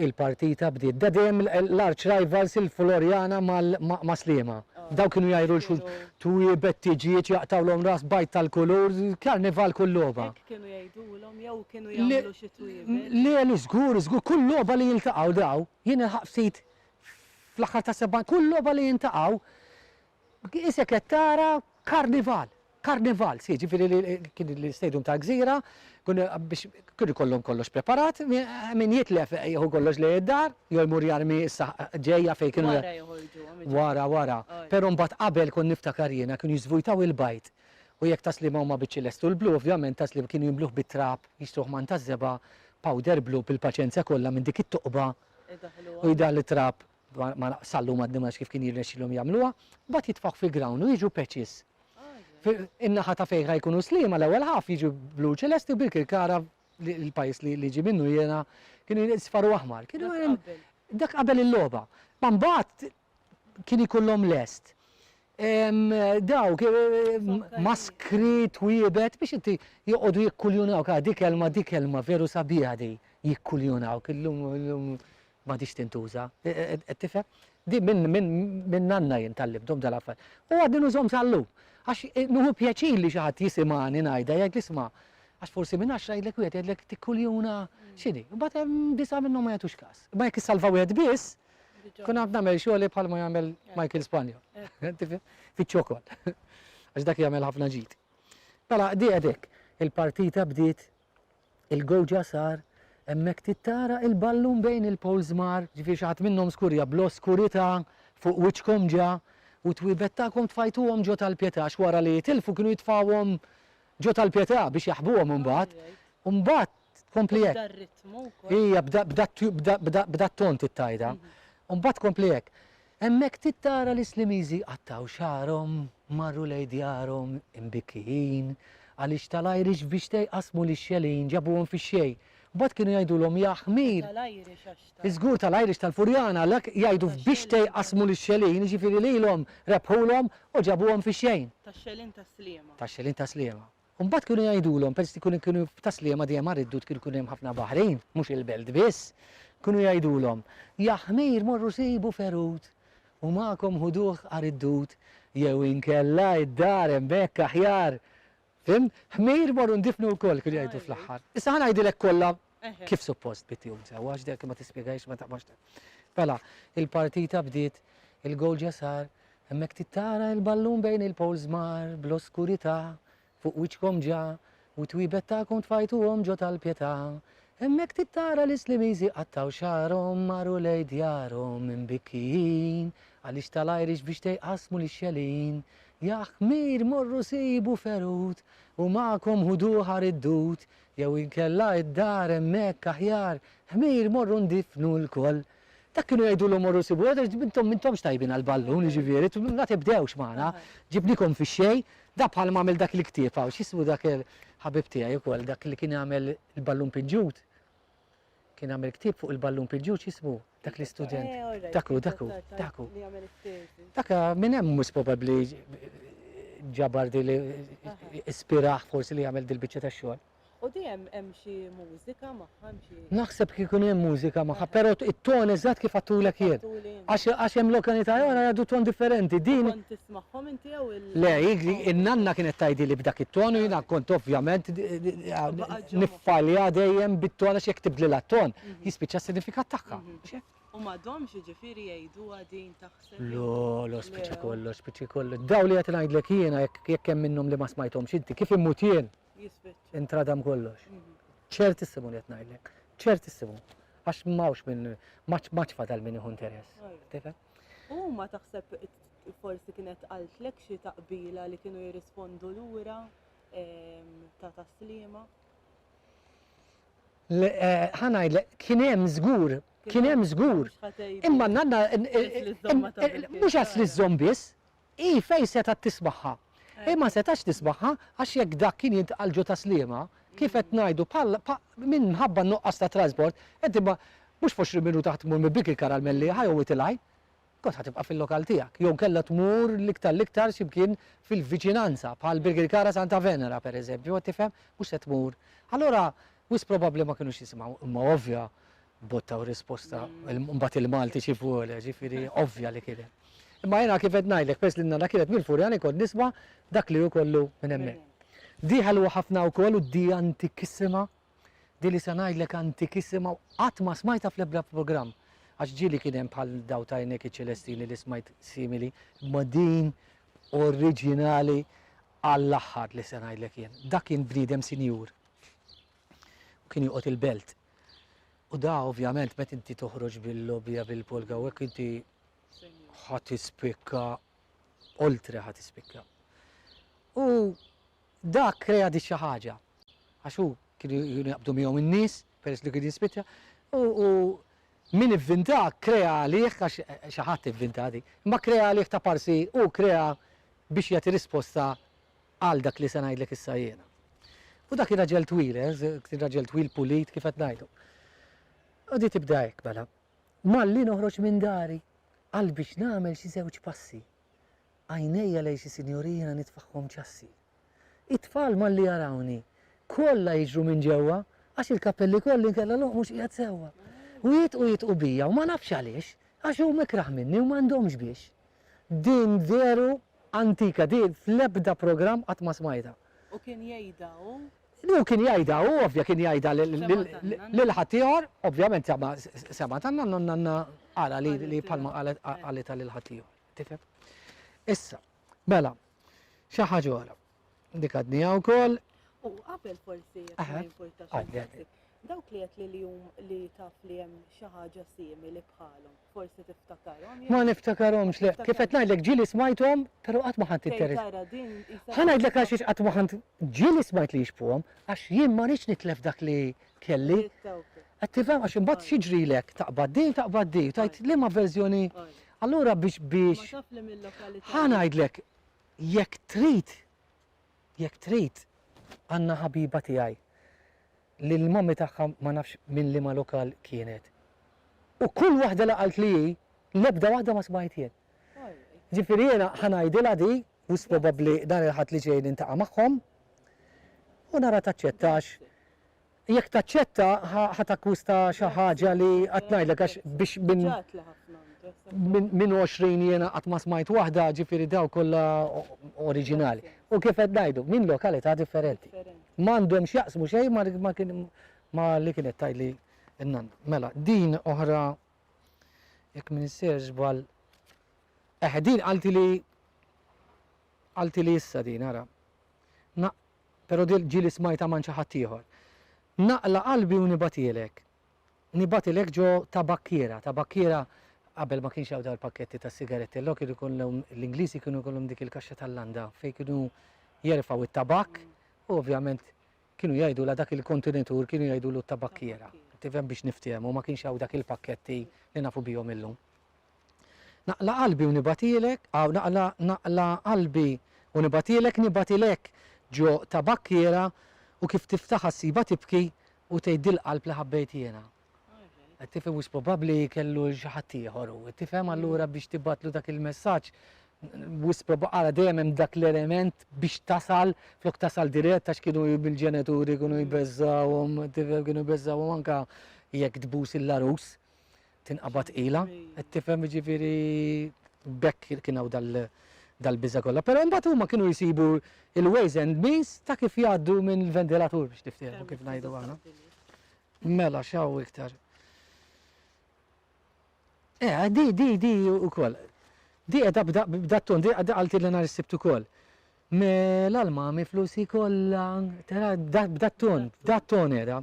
il-partita bdiet. Bda dejjem l-arċ rivals il-Floriana ma' Sliema. Daw kienu jgħajru l xulxin. Twiebet, tiġijiet, jaqtgħulhom ras, bajd tal-kulur, karnival kull logħba. Hekk kienu jgħidulhom jew kienu jagħmlu xi twiebet? Le le żgur żgur kull logħba li jiltaqgħu daw. Jien nilħaq ftit fl-aħħar tas-70 kull logħba li jintaqgħu Isek qed tara karnival, karnival, si ġifieri li kien l-istadium tal-Gżira, biex kien ikollhom kollox preparat, min jitlef jieħu kollox lejn id-dar, jew imur jarmi issa ġejja fejn kienu. Wara joħorġuhom iġorru. Wara, wara. Però mbagħad qabel kont niftakar jiena kienu jiżvujtaw il-bajd u jekk ta' Sliema huma biċ ċelest u l-blu, ovvjament ta' Sliema kienu jimluh bit-trab, jixtruh man taż-żebgħa, powder blu bil-paċenzja kollha minn dik it-toqba u jdaħħlu t-trab Dwar ma sallhu ma d-dimgħax kif kien jirnexxilhom jagħmluha, mbagħad jitfgħu fil-ground u jiġu patches. In-naħa ta' fejn ħa jkunu Sliema l-ewwel half jiġu blu ċelesti u Birkirkara l-pajjiż li ġie minnu jiena kienu isfar u aħmar. Kienu dak qabel il-logħba. Ma mbagħad kien ikollhom lest dawk maskri twiebet biex inti joqogħdu jikkuljunawk, ah dik kelma dik kelma veru sabiħa di, jikkuljunawk illum m'għadhiex tintuża. Qed tifhem? Di minn minn minn nanna jien tgħallimthom dal-affarijiet. U għadni nużhom sal-lum. Għax nieħu pjaċir li xi ħadd jisimgħani ngħidha jgħidli isma' għax forsi minn għaxra jgħidlek wieħed jgħidlek tikkuljuna x'inhi. Imbagħad hemm disgħa minnhom ma jagħtux każ. Imma jekk issalva wieħed biss, nkun għad nagħmel xogħli bħal ma jagħmel Michael Spagna. Tifhem? Fiċ-ċokon. Għax dak jagħmel ħafna ġid. Mela di qed hekk. Il-partita bdiet Il-gowġa sar hemmhekk tittara il-ballun bejn il-poles mar. Ġifieri xi ħadd minnhom skurja bl-oskurità fuq wiċċkom ġa u t-twiebet tagħkom tfajtuhom ġo tal-Pietà għax wara li jitilfu kienu jitfgħuhom ġo tal-Pietà biex jaħbuhom imbagħad. U mbagħad tkompli hekk. B'dan ritmu wkoll. Ija, b'dan b'dan b'dan b'dan b'dan ton titgħidha. U mbagħad tkompli hekk. Hemmhekk trid tara li s-Slimiżi qattgħu xagħarhom, marru lejn djarhom imbikkijin, għaliex tal-Irish biex te jqassmu lix-xelin ġabuhom fix-xejn. Mbagħad kienu jgħidulhom ja ħmir! Żgur tal-Irish tal-Furjana għalhekk jgħidu f'biex te jqassmu lix-xelin, jiġifieri lilhom rebħulhom u ġabuhom fix-xejn. Tax-xelin tas-Sliema. Tax-xelin tas-Sliema. U mbagħad kienu jgħidulhom, peress li kienu kienu ta' Sliema dejjem nhar id-Dud kienu jkun hemm ħafna baħrin, mhux il-Belt biss, kienu jgħidulhom, Ja ħmir morru sibu ferut u magħkom ħuduh nhar id-Dud jew inkella d-dar hemmhekk aħjar. Fhimt? Ħmir morru ndifnu wkoll, kienu jgħidu fl-aħħar. Issa ħa ngħidilek kollha Kif suppost bi tjum sew, għax dek ma tispjegahiex ma taqbax ta. Mela, il-partita bdiet, il-gowl ġa sar, hemmhekk tittara il-ballun bejn il-poles mar bl-oskurità, fuq wiċċkom ġa, u t-twiebet tagħkom tfajtuhom ġo tal-pjetà. Hemmhekk tittara l-Islimiżi qattgħu xagħarhom marru lejn djarhom imbikkijin, għaliex tal-Irish biex te jqassmu lix-xelin. Jah, ħmir morru sibu ferut, u magħkom ħuduh għar id-dud, Jew inkella id-dar hemmhekk aħjar, ħmir morru ndiffnu lkoll. Dak kienu jgħidulhom morru sibu wieħed għax intom m'intomx tajbin għall-ballun, jiġifieri, ma tibdewx magħna, ġibnikom fix-xejn, da bħal ma għamel dak il-ktieb hawn, x'jismu dak il-ħabib tiegħi wkoll dak li kien jagħmel il-ballun pinġut? Kien għamel ktieb fuq il-ballun piġġuġ jismu Dak l-Istudent. Dak hu, dak hu, dak hu. Dak minn hemm mhux probabbli ġabar di li ispirah forsi li jagħmel dil-biċċa tax-xogħol. U di hemm hemm xi mużika magħha xi? Naħseb kif ikun hemm mużika magħha, però it-ton eżatt kif għattulek jien. Għax għax hemm lokalità oħra jgħaddu ton differenti. Din. Kont tismagħhom inti jew il. Le, in-nanna kienet tgħidili b'dak it-ton u jiena kont ovvjament F'għaliha dejjem bit-ton għax jekk tibdlilha t-ton, jispiċċa s-sinifikat tagħha. U m'għadhomx jiġifieri jgħiduha din taħseb jew. Le, le, spiċċa kollox, spiċċa kollox. Dawn li qed ngħidlek jiena jekk jekk hemm minnhom li ma smajthomx inti, kif immut jien, intradam kollox. Ċertissimu li qed ngħidlek. Ċertissimu. Għax m'hawnx min m'għadx fadal min jieħu interess. Tifhem? U huma taħseb forsi kienet qaltlek xi taqbila li kienu jirrispondu lura? ta' taslima? Eh, ħanaj, kien hemm żgur, kien hemm żgur. Imma nanna mhux għas li żżomm biss, i fej seta' tisbaħħa. Eh. Imma setax tisbaħħa għax jekk dak kien jintqal ġo taslima, kif qed ngħidu minn mħabba nuqqas ta' trasport, qed imma mhux 20 minuta taħt mur mibik il-karamelli ħajhom itilgħin. Kont ħa tibqa' fil-lokal tiegħek, jew kellha tmur l-iktar l-iktar xi mkien fil-viċinanza, bħal Birkirkara Santa Venera, per eżempju, qed tifhem? Mhux se tmur. Allura, wisq probabbli ma kinux jisimgħu, imma ovvja, bottaw risposta, imbagħad il-Malti xi vuole, ġifieri ovvja li kien hemm. Imma jiena kif qed ngħidlek, peress li n-nana kienet mill-Furjani kont nisma' dak li hu kollu minn hemmhekk. Dieha ħelwa ħafna wkoll u dieha antikissima. Din li se ngħidlek antikissima u qatt ma smajtha fl-ebda programm. Għax ġieli kien hemm bħal daw ta' Għajnejk iċ-Ċelestini li smajt simili, imma din oriġinali għall-aħħar li se ngħidlek jien. Dak kien bniedem sinjur u kien joqgħod il-belt. U da ovvjament meta inti toħroġ bil-lobija bil-polga u hekk inti ħadd ispikka oltre ħadd ispikka. U Dak krea dik xi ħaġa, għax hu kienu jkunu jaqbdu miegħu n-nies, peress li kien jispiċċa, u min ivvinta krea għalih, għax xi ħadd ivvinta dik, imma krea għalih ta' parsi hu krea biex jagħti risposta għal dak li se ngħidlek issa jiena. U dak kien raġel twil, kien raġel twil pulit kif qed ngħidu. U di tibda hekk mela. Malli noħroġ minn dari, qalbi x'nagħmel xi żewġ passi, Għajnejja lejn xi sinjorina nitfagħhom ċassi. It-tfal malli jarawni, kollha jiġru minn ġewwa, għax il-kappell li kolli inkella l-għonq mhux qiegħed sewwa. U jidħqu jidħqu bija u ma nafx għaliex, għax huma ikrah minni u m'għandhomx biex. Din veru antika, din fl-ebda programm qatt ma smajtha. U kien jgħidha hu? Hu kien jgħidha, hu ovvja kien jgħidha lil ħaddieħor, ovvjament ma semgħet għandna u n-nanna ara li bħalma qalet qalilha lil ħaddieħor. Tifhem? Issa, mela, xi ħaġa oħra. Dik għadniha wkoll. U qabel forsi jekk ma jimpurtax. Dawk li qed li li taf li hemm xi ħaġa simili bħalhom. Forsi tiftakarhom jew. Ma niftakarhomx le. Kif qed ngħidlek ġieli smajthom, però qatt ma ħadt interess. Fejn tara din qisha. Ħa ngħidlek għax iex qatt ma ħadt ġieli smajt li jixbhuhom għax jien ma rridx nitlef dak li kelli. Qed tifhem għax imbagħad x'jiġrilek taqbad din taqbad din u tgħid liema verżjoni allura biex biex Ħa ngħidlek jekk trid jekk trid għandna ħabiba tiegħi. li l-mommy tagħha ma nafx minn liema lokal kienet. U kull waħda li qaltli hi, l-ebda waħda ma smajt jien. Ġifieri jiena ħa ngħidilha di, wis probabbli dan il-Ħadd li ġej nintaqa' magħhom, u nara taċċettax. Jekk taċċetta ħa takkwista xi ħaġa li qatt ngħidlek għax biex minn minn għoxrin jiena qatt ma smajt waħda, ġifieri dawn kollha oriġinali. U kif qed ngħidu, minn lokalità differenti. Ma għandhom x'jaqsmu xejn ma ma kien ma li kienet tgħidli n-nonna. Mela, din oħra jekk min isser żball. Eħe, din qaltili qaltili issa din ara. Na, però ġieli smajta man xi ħadd ieħor. Naqla qalbi u nibatielek. Nibgħatilek ġo ta' bakkiera, ta' bakkiera qabel ma kienx hawn dawn il-pakketti tas-sigaretti, allura kienu jkollhom l-Ingliżi kienu jkollhom dik il-kaxxa tal-landa fejn kienu jerfgħu t-tabakk u ovvjament kienu jgħidulha dak il-kontenitur kienu jgħidulu t-tabakkiera. Tifhem biex niftehmu ma kienx hawn dak il-pakketti li nafu bihom illum. Naqla' qalbi u nibagħtilek aw naqla' naqla' qalbi u nibagħtilek nibgħati lek ġo ta' bakkiera u kif tiftaħha ssibha tibki u tgħid dil-qalb li ħabbejt jiena. Qed tifhem wis probabbli kellu xi ħadd ieħor hu, qed tifhem allura biex tibgħatlu dak il-messaġġ wis prob ara dejjem hemm dak l-element biex tasal flok tasal dirett għax kienu l-ġenituri kienu jbeżżgħuhom tifhem kienu jbeżżgħuhom anke jekk tbus il-għarus. tinqabad ilha, qed tifhem jiġifieri b'hekk kien hawn dal-biża' kollha. Però imbagħad huma kienu jsibu il-ways and means ta' kif jgħaddu minn il-ventilatur biex tiftehmu kif ngħidu aħna. Mela x'hawn iktar. Eh, di, di, di ukoll. Di qiegħda b'dat ton, di għalti li nhar is-sibt ukoll. Me l-almami flusi kollha, tara b'dat ton, b'dat ton era,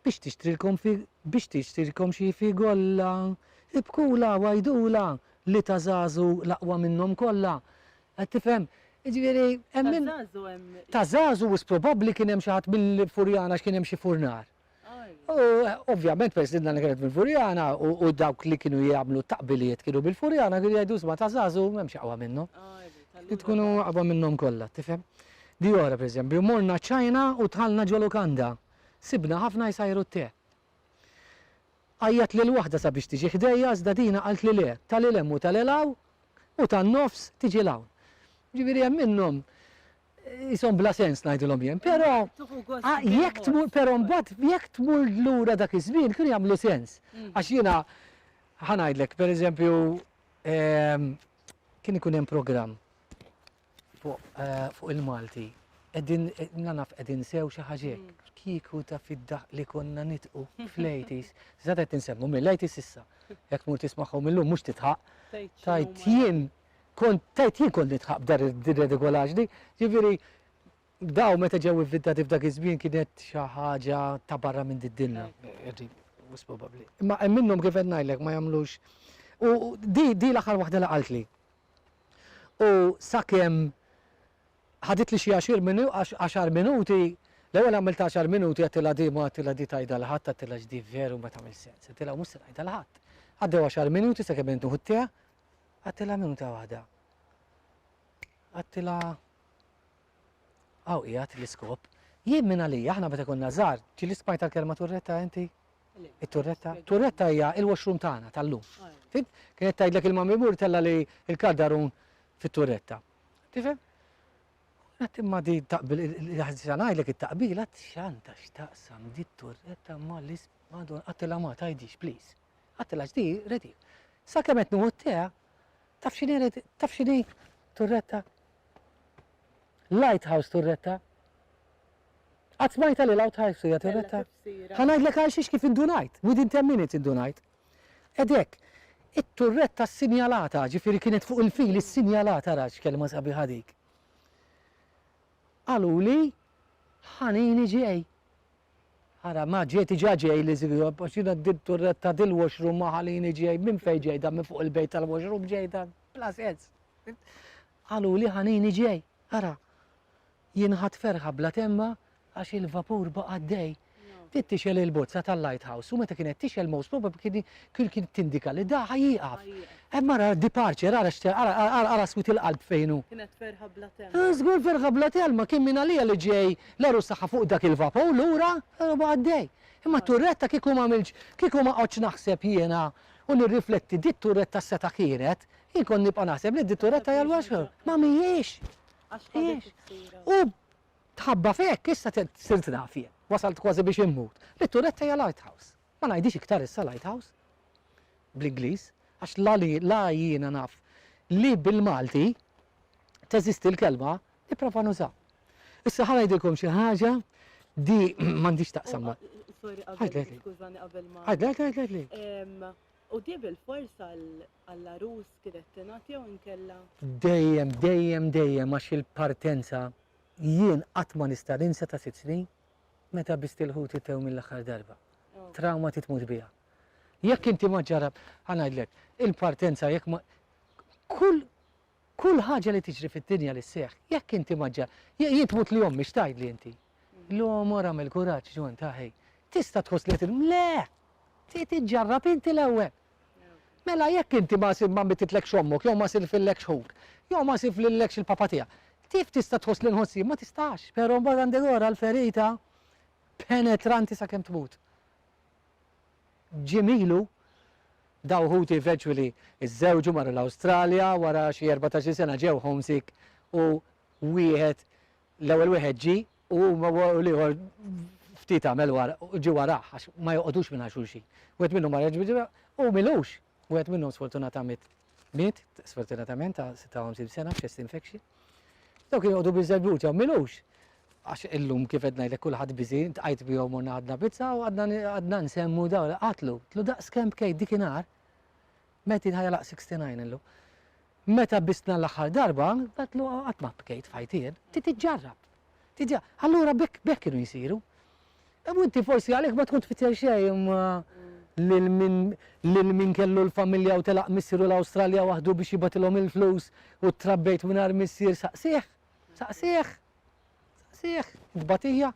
biex tixtrilkom fi, biex tixtrilkom xi fi golla, ibkula, wajdula, li ta' żagħżu l-aqwa minnhom kollha. Qed tifhem? Jiġifieri hemm min. Ta' żagħżu hemm. Ta' żagħżu wisq probabbli kien hemm xi ħadd mill-Furjana għax kien hemm xi furnar. U ovvjament peress li d-nana kienet mill-Furjana u dawk li kienu jagħmlu t-taqbiliet kienu mill-Furjana kienu jgħidu isma' ta' żagħżugħ m'hemmx aqwa minnu. Li tkunu aqwa minnhom kollha, tifhem? Di oħra pereżempju, morna China u dħalna ġo lukanda. Sibna ħafna jsajru t-te. Għajjat lil waħda sabiex tiġi ħdejja iżda dina qaltli le, ta' lil hemm u ta' lil hawn u tan-nofs tiġi 'l hawn. Jiġifieri hemm minnhom Ishom bla sens ngħidilhom jien, però jekk tmur però mbagħad jekk tmur lura dak iż-żmien kienu jagħmlu sens. Mm. Għax jiena ħanajdlek, per eżempju, ehm, kien ikun hemm programm fuq eh, il-Malti. Edin, eh, nanaf edin sew xi ħaġek. Mm. Kiku ta' fidda li konna nitqu fl-80s. Zada qed insemmu mill-80s issa. Jekk mur tismagħhom illum mhux titħaq. Tajt jien Kont tgħid jien kont nidħaq b'dan ir-redikolaġni. Jiġifieri dawn meta ġew ivvintati f'dak iż-żmien kienet xi ħaġa ta' barra minn did-dinja. Wisq probabbli. Imma hemm minnhom kif qed ngħidlek ma jagħmlux u di di l-aħħar waħda li qaltli. U sakemm ħaditli xi għaxir minu għax għaxar minuti l-ewwel għamilt għaxar minuti għedtilha di ma għedtilha di tgħidha l ħadd għedtilha x'di veru ma tagħmel sens. Għedtilha mhux se ngħidha l ħadd. Għaddew għaxar minuti sakemm intuħu t-tea Għattilha minuta waħda. Għattilha għaw qiegħed l-iskop. Jien minn għalija aħna meta konna żgħar, ġieli smajt tal-kelma turretta inti? It-turretta? Turretta hija il-washroom tagħna tal-lum. Fim? Kienet tgħidlek il-mammi mur tella li l-kaddarun fit-turretta. Tifhem? Għat imma di taqbil, ħazza ngħidlek it-taqbila x'għandha x'taqsam di turretta ma l-is madon qatilha ma tgħidix, please. Ħadt il-HD, rrid hi. Sakemm qed nieħu t-tè, taf x'inhi rrid, taf x'inhi Turretta? Lighthouse Turretta. Qatt smajtha li l-outhouse hija Turretta? Ħa ngħidlek għal xiex kif indunajt, within ten minutes indunajt. Ed hekk, it-turretta ssinjalata, ġifieri kienet fuq il-fil issinjalata ra x'kelma sabiħa dik. Qaluli, Ħanini ġej. Ara ma ġej diġa ġej li żgħob għax jiena din turret ta' dil washroom ma ħalini ġej minn fejn ġej dan minn fuq il-bejt tal-washroom ġej dan bla sens. Qalu li ħanini ġej. Ara. Jien ħadd ferħa bla temma għax il-vapur baqa' għaddej. Bdiet tixel il-bozza tal-lighthouse u meta kienet tixel most probably kien kien tindika li da ħa jieqaf. Hemm ara departure ara ara swit il-qalb fejnu. Kienet ferħa bla temma. Żgur ferħa bla telma kien minn għalija li ġej L-għarus tagħha fuq dak il-vapur lura, l-għarba għaddej. Imma t-turretta kieku m'għamiltx, kieku ma qgħodtx naħseb jiena u nirrifletti dit-turretta x'seta' kienet, jien kont nibqa' naħseb li dit-turretta hija l-washer. Ma mhijiex! Mhijiex! U mħabba f'hekk issa sirt naf jien, wasalt kważi biex immut, li t-turretta hija lighthouse. Ma ngħidhiex iktar issa lighthouse bl-Ingliż, għax la jiena naf li bil-Malti teżisti l-kelma Nipprova nuża. Issa ħa ngħidilkom xi ħaġa di m'għandix taqsam ma. Sorry qabel skużani qabel ma. Għad għad għad għad U di bil-fors għall-arus kienet tingħat jew inkella? Dejjem, dejjem, dejjem għax il-partenza jien qatt ma nista' ninsa ta' sitt snin meta biss il-ħut itew mill-aħħar darba. Trauma titmut biha. Jekk inti ma ġarab, ħanajdlek, il-partenza jekk ma kull Kull ħaġa li tiġri fid-dinja li sseħħ, jekk inti ma ġġa, jien tmut li ommi x'tgħidli inti? Illum mor agħmel kuraġġ, John, ta' ħej. Tista' tħoss li qed illum, le! Trid iġġarrab inti l-ewwel. Mela jekk inti ma ma mittitlekx ommok jew ma sirfillekx ħuk, jew ma sirflillekx il-papa tiegħek, kif tista' tħoss li nħoss jien? Ma tistax, però mbagħad għandek ora l-ferita penetranti sakemm tmut. Jiem ilu, daw ħuti eventually żżewġu marru l-Awstralja, wara xi erbatax-il sena ġew homesick u wieħed, l-ewwel wieħed ġie u huma u l-ieħor ftit għamel wara, ġie warah għax ma joqogħdux mingħajr xulxin. Wieħed minnhom mar u milux Wieħed minnhom sfortunatament miet, sfortunatament ta' 56 sena f'chest infection. Daw kienu għodu bizzebut, jaw milux. Għax illum kif qed ngħidlek kulħadd biżi, tqajt bihom morna għadna pizza u għadna nsemmu daw qatlu. Tlu daqs kemm kej dikinhar, meti ħajja laq 69 illum. Meta bistna l-aħħar darba, għedtlu qatt ma bkejt f'ħajti jien. Trid iġġarrab. Allura b'hekk kienu jsiru. U inti forsi għalhekk ma tkun tfittex xejn lil min kellu l-familja u telaq missieru l-Awstralja waħdu biex jibgħatilhom il-flus u ttrabbejt mingħajr missier saqsih. Saqsih. Saqsih. Tbatija.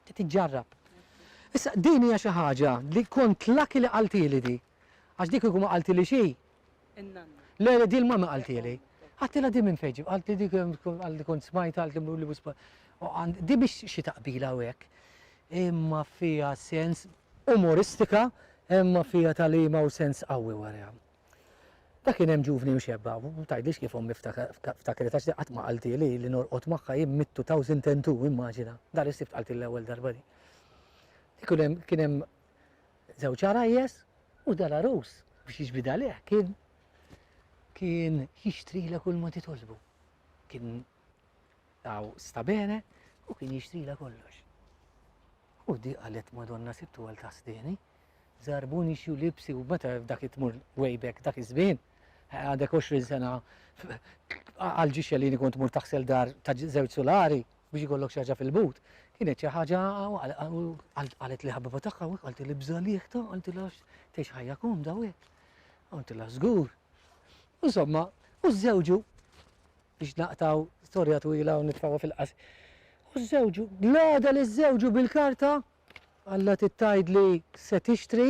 Trid iġġarrab. Issa din hija xi ħaġa li kont laki li qaltili di. Għax di kieku ma qaltili xi. In-nanna. Le, le, di l-mamma qaltili. Għattilha di minn fejn ġib, qaltli di għalli kont smajt għalli mruli wispa. Di biex xi taqbila u hekk. Imma fija sens umoristika, imma fija talima u sens qawwi warja. Ta' kien hemm ġuvni mxebba, u tajdix kif ommi ftakret għax qatt ma qalti li li norqod magħha jien mittu taw sintentu immaġina. Dar is-sibt qalti l-ewwel darba di. Kien hemm Żewġ għarajjes u dal-għarus biex jiġbid għalih kien kien jixtrilha kull ma titolbu. Kien għaw sta bene u kien jixtrila kollox. U di għalet madonna sibtu għal tasdini, zarbuni xju libsi u meta dak it-tmur way back dak iż-żmien, għadek 20 sena għalġi xellini kont mur taħsel dar ta' zewċ solari, biex ikollok xi ħaġa fil-but, kienet xi ħaġa qalet li ħabiba tagħha hekk qalti li bżalieħta qaltilha tgħix ħajja komda u hekk. Qaltilha żgur. Insomma, u żewġu biex naqtaw storja twila u nitfgħu fil-qas. U żewġu, l-għada li żewġu bil-karta, għalla tittajt li se tixtri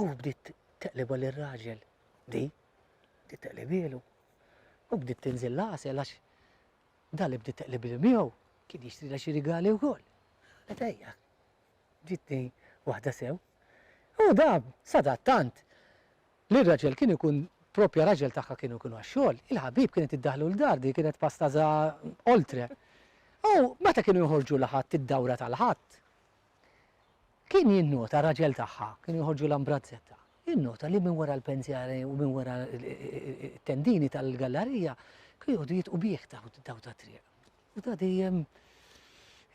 U bdiet teqlibha lir raġel di, bdiet teqlibielu. U bdiet tinżil l-għasel għax dan li bdiet teqlibielu miegħu kien jixtrilha xi rigali wkoll. Qed ejja, ġitni waħda sew. U da sadattant li r-raġel kien ikun propja raġel tagħha kienu kienu għax-xogħol, il-ħabib kienet iddaħlu l-dar di kienet pastaza oltre. U meta kienu joħorġu l-ħadd id-dawra tal-ħadd, Kien jinnota, raġel tagħha, kienu joħorġu l-ambrazzetta, jinnota li minn wara l-pensjali u minn wara t-tendini tal-gallarija kienu jgħodu jitqu bih daw tat-triq. U ta' dejjem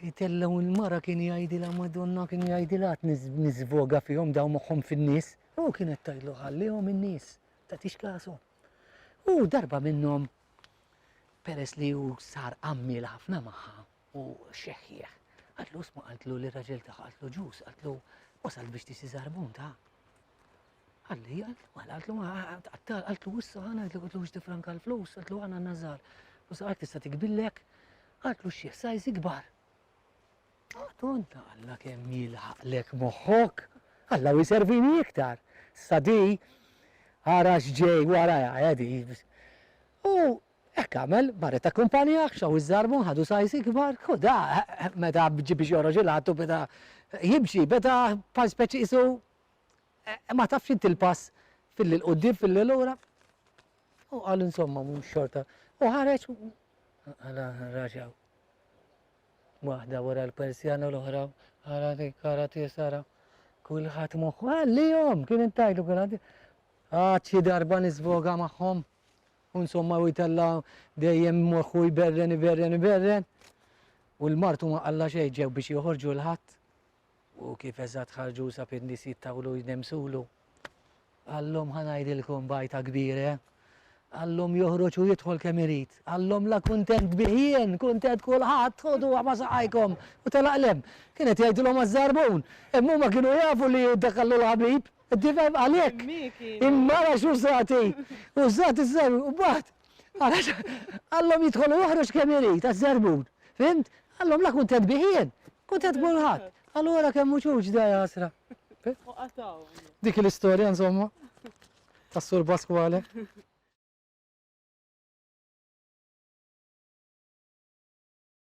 jitellgħu l-mara kien jgħidilha Madonna kien jgħidilha niżvoga fihom daw moħħhom fin-nies. U kienet tgħidlu ħallihom in-nies, tagħtix kasu. U darba minnhom peress li hu sar għammiel ħafna magħha, U xeħħieħ. Qaltlu sma' qaltlu li r-raġel tagħha qaltlu ġus, qaltlu wasalt biex tisi żarbun ta'. Qalli, mela qaltlu ma tqattal, qaltlu issa ħana qaltlu qaltlu biex tifranka l-flus, qaltlu ħana nażar. U saqalek tista' tikbillek, qaltlu xieħ sajż ikbar. Tonta Alla kemm jilħaqlek moħħok, Alla u jservini iktar. Sadi, ara x'ġej wara jaqedi. U Hekk għamel, Barrett akkumpanjah, xaw iż-żarbun, ħadu size ikbar, hu da, meta bġi biex joħroġ il-għadd u beda jimxi, beda bħal speċi qisu ma tafx inti l-pass fil-lil quddiem, fil-lil lura. U qal insomma mhux xorta. U ħareġ u għala raġaw. Waħda wara l-persjana l-oħra, għala dik kara tisara. Kulħadd moħħu għalihom, kien intajlu kulħadd. Għad xi darba nisvoga magħhom. U insomma u jtella' dejjem moħħu jberren, iberren, iberren. U l-martu ma qalla xejn ġew biex joħorġu l-ħadd. U kif eżatt ħarġu sab in-nies jittawlu jnemsulu. Għallhom ħanajdilkom bajta kbire. Eh? Għallhom joħroġ u jidħol kemm irid. Għallhom la kuntent biħien, kuntent kulħadd, ħodu ma saqajkom. U telaqlem, kienet jgħidilhom għaż-żarbun. Imma ma kienu jafu li dak għallu l-ħabib. Tifhem għalhekk il-mara x'użat hi? Użat iż-żarbun u mbagħad għalax qallhom jidħol u joħroġ kemm irid għaż-żarbun. Fhimt? Qallhom la kuntent bih jien, kuntent b'kulħadd. Qalu ara kemm hu ċuċ da jasra. U qatgħu. Dik l-istorja insomma tas-Sur Pasquale.